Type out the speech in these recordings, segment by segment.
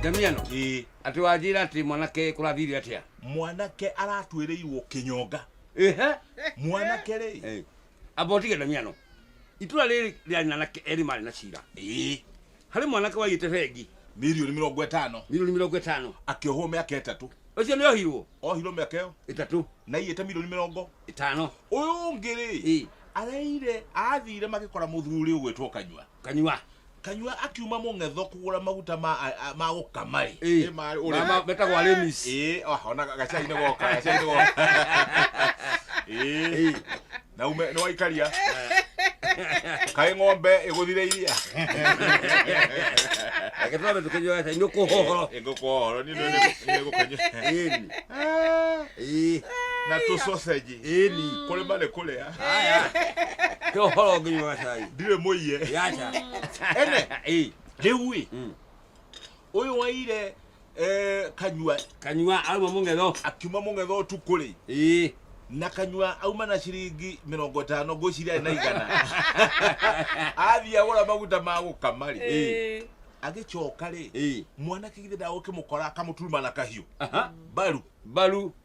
ndamiano ĩĩ atĩ wanjĩra atĩ mwanake kũrathire atĩa mwanake aratuĩrĩirwo kĩnyonga ĩhe mwanake rĩ Eh, amba ũtige ndamiano itũra rĩrĩ rĩarĩ na anake erĩ marĩ na cira ĩĩ harĩ mwanake waigĩte bengi milioni mĩrongo ĩtano milioni mĩrongo ĩtano akĩohwo mĩaka ĩtatũ ũcio nĩ ohirwo ohirwo mĩaka ĩyo ĩtatũ na iyĩte milioni mĩrongo ĩtano ũyũ ũngĩ rĩ Ĩĩ. areire athire magĩkora mũthuri ũgwĩtwo kanyua kanyua kanyua akiuma mũng'etho kũgũra maguta ma a- a- ma gũkama rĩ Ĩ, Ĩ, ma- ũrĩa- ma- ma- metagwo Artemis. Ĩ, ah, ona gacai-inĩ goka gacai-inĩ goka Ĩ, na ume nĩ waikaria kaĩ ng'ombe ĩgũthire iria Agĩtwara mĩtũ kĩnyua gacai, nĩ ũkũhohoro. ĩngũkũhoro nĩ Ĩni. Ĩĩ. na tũ sausage Ĩni. Kũrĩ marĩ kũrĩa. Haya. Nĩ ũhoro nginya wa cai. Ndirĩ mũiye. Yacha. Ene. Ĩ. Rĩu ĩ. Ũyũ waire eh, kanyua kanyua auma mũng'etho akiuma mũng'etho ũtukũ rĩ ĩ na kanyua auma na ciringi mĩrongo ĩtano ngwĩciria arĩ na igana athiĩ agũra maguta ma gũkama rĩ Ĩ. agĩcoka rĩ mwanake githĩ ndagũkĩmũkora akamũturuma na kahiũ mbaru mbaru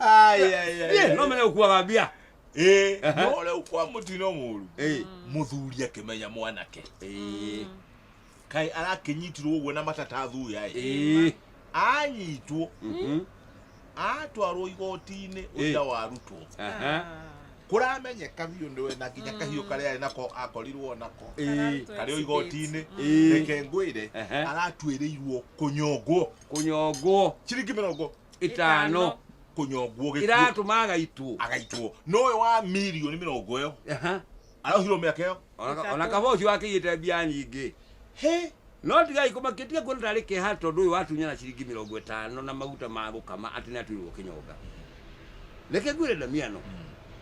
Niĩ no menye gũkuaga mbia Eh, Aha. no rĩu kwa mũtino mũru Eh, mũthuri akĩmenya mwanake eh, kaĩ arakĩnyitirwo ũguo na matatathuya ĩ eh, anyitwo mhm, atwarwo igoti-inĩ ũira warutwo aha, kũramenyeka biũ nĩwe na nginya kahiũ karĩa arĩ nako akorirwo nako eh, karĩ o igoti-inĩ Eh. reke ngwĩre Aha. aratuĩrĩirwo kũnyongwo kũnyongwo ciringi mĩrongo itano kunyongwo gikuo iratuma agaitwo agaitwo noyo wa milioni mirongo yo Aha. arohirwo miaka yo Ona- ona kaba ucio akĩiyĩte mbia nyingĩ he no tigai kũmakĩtia kuona tarĩ kĩha tondũ ũyũ watunya na ciringi mĩrongo ĩtano na maguta ma gũkama atĩ nĩ atuirwo kĩnyonga reke ngwĩre ndamiano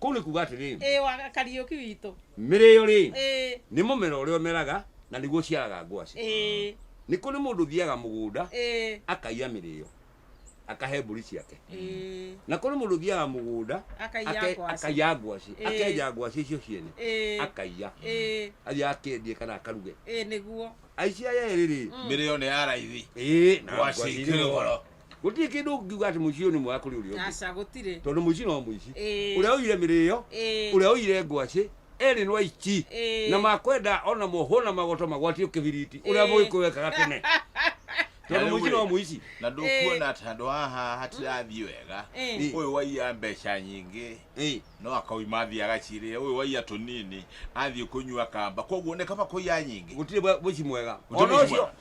kũu nĩ kuga atĩrĩ ĩĩ wa kariũki witũ mĩrĩyo rĩ ĩĩ nĩ mũmera ũrĩa ũmeraga na nĩguo ũciaraga ngwacĩ ĩĩ nĩ kũrĩ mũndũ ũthiaga mũgũnda ĩĩ akaiya mĩrĩyo akahe mbũri ciake ĩĩ na kũrĩ mũndũ ũthiaga mũgũnda akaiya ake- ngwacĩ akaiya ngwacĩ Ĩĩ. akenja ngwacĩ icio ciene ĩĩ akaiya ĩĩ athiĩ akendie kana akaruge ĩĩ nĩguo aici aya erĩ rĩ Mm. mĩrĩyo nĩ ya raithi ĩĩ na ngwacĩ ngwacĩ irĩ irĩ goro. goro gũtirĩ kĩndũ ũngiuga atĩ mũciĩ ũyũ nĩ mwega kũrĩ ũrĩa ũngĩ aca gũtirĩ tondũ mũici no mũici Ĩĩ. ũrĩa ũire mĩrĩo Ĩĩ. ũrĩa ũire ngwacĩ erĩ nĩ aici Ĩĩ. na makwenda ona mohwo na magoto magwatio kĩbiriti ũrĩa Ĩĩ. mũgĩkũyũ wekaga tene tondũ Na rĩu mũici rĩ, no mũici na ndũkuona atĩ handũ haha hatirathiĩ wega Ĩĩ. ũyũ waiya mbeca nyingĩ Ĩĩ. no akauma athiĩ agacirĩa ũyũ waiya tũnini athiĩ kũnyua kamba koguo nĩ kaba kũiya nyingĩ gũtirĩ mwe- mũici mwega Gũtirĩ ona mũici ũcio mwega.